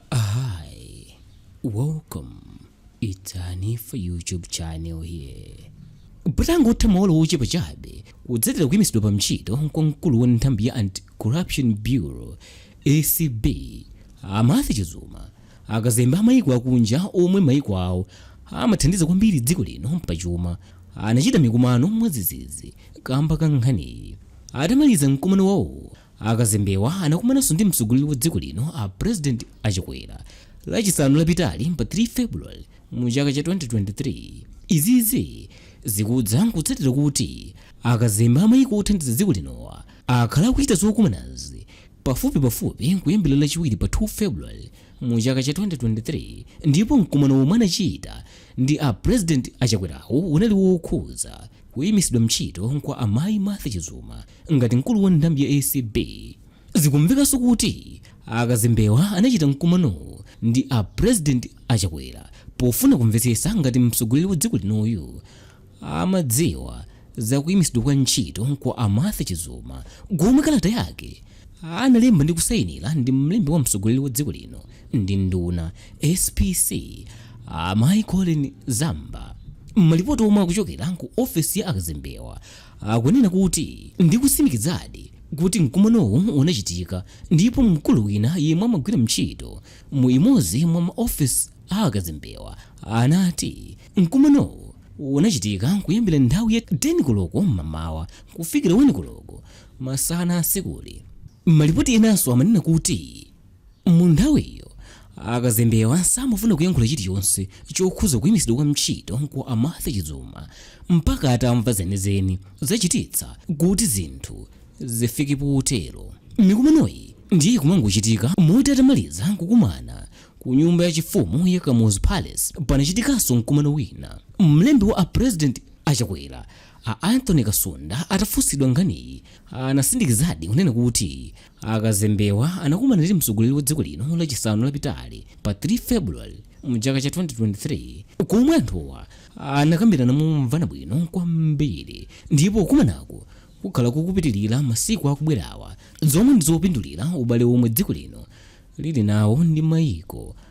Hi, welcome. It's Hanifa YouTube channel here. Patangotha maola ochepa chabe kutsatira kuyimitsidwa pa ntchito kwa mkulu wa nthambi ya Anti-Corruption Bureau ACB a Martha Chizuma akazembe a mayiko akunja omwe mayiko awo amathandiza kwambiri dziko lino pachuma anachita mikumano mwadzidzidzi kamba ka nkhaniyi atamaliza mkumano wawo A Kazembewa anakumananso ndi mtsogoleri wa dziko lino a President a Chakwera lachisanu lapitali pa 3 February mu chaka cha 2023. Izizi zikudza kutsatira kuti a kazembe a maiko othandiza dziko linowa akhala akuchita zokumanazi pafupi pafupi kuyambira lachiwiri pa 2 February mu chaka cha 2023 ndipo mkumano omwe anachita ndi a President a Chakwerawu unali wokhuza kuimisidwa ntchito kwa a Mayi Martha Chizuma Ngati mkulu wa nthambi ya acb, zikumvekanso kuti a Kazembewa anachita mkumanowu ndi a President a Chakwera pofuna kumvetsesa ngati mtsogoleri wa dziko linoyu amadziwa za kuimisidwa kwa ntchito kwa a Martha Chizuma komwe kalata yake analemba ndi kusainila ndi mlembi wa mtsogoleri wa dziko lino ndi nduna, SPC, a Mayi Collen Zamba. Malipoti omwe akuchokera ku ofesi ya a Kazembewa, akunena kuti ndi kutsimikizadi kuti mkumanowu unachitika ndipo mkulu wina yemwe amagwira ntchito mu imodzi mwa ma office a akazembewa anati mkumanowu unachitika kuyambira nthawi ya 10 koloko m'mamawa kufikira 1 koloko masana a tsikuli. Malipoti enanso amanena kuti Munthawiyo, akazembewa samafuna kuyankhula chilichonse chokhuza kuyimitsidwa kwa ntchito kwa a Martha Chizuma mpaka atamva zenizeni zachititsa kuti zinthu zifike potero. Mikumanoyi ndiye ikumangochitika moti atamaliza kukumana ku nyumba ya chifumu ya Kamuzu Palace panachitikanso mkumano wina mlembi wa a President a Chakwera a Anthony Kasunda atafunsidwa nkhaniyi anatsimikizadi kunena kuti A Kazembewa anakumana ndi mtsogoleri wa dziko lino lachisanu lapitali pa 3 February mchaka cha 2023 komwe anthuwa anakambirana momvana bwino kwambiri ndipo kukumanaku kukhala kukupitilira masiku akubwerawa zomwe ndizopindulira ubale omwe dziko lino lili nawo ndi maiko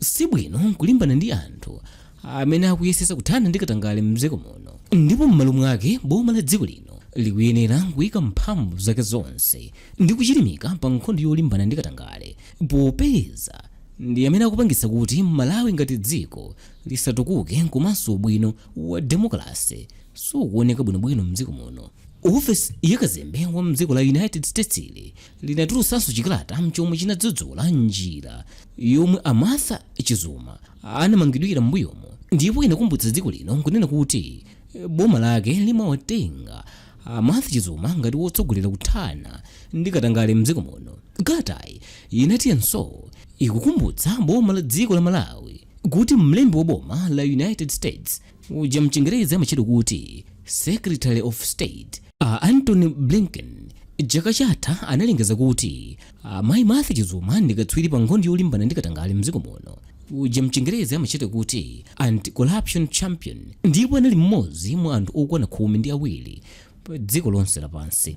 Si bwino kulimbana ndi anthu amene akuyesetsa kuthana ndi katangale m'dziko muno ndipo m'malo mwake boma la dziko lino likuyenera kuika mphamvu zake zonse ndi kuchilimika pa nkhondo yolimbana ndi katangale popeza ndi amene akupangitsa kuti Malawi ngati dziko lisatukuke komanso ubwino wa demokalase sukuoneka bwinobwino m'dziko muno. Ofesi ya kazembe wa m'dziko la United States ili linatulutsanso chikalata chomwe chinadzudzula njira yomwe a Martha Chizuma anamangidwira m'mbuyomo ndipo inakumbutsa dziko lino nkunena kuti eh, boma lake limawatenga a Martha Chizuma ngati wotsogolera kuthana ndi katangale mdziko muno. Kalatayi inatinso ikukumbutsa boma la dziko la Malawi kuti mlembi wa boma la United States uja mchingerezi amatchedwa kuti secretary of state a antony blinken chaka chatha analengeza kuti amayi martha chizuma ndi katswiri pa nkhondo yolimbana ndi katangale mdziko muno uja mchingerezi amatchedwa kuti anti-corruption champion ndipo anali mmodzi mwa anthu okwana khumi ndi awiri pa dziko lonse lapansi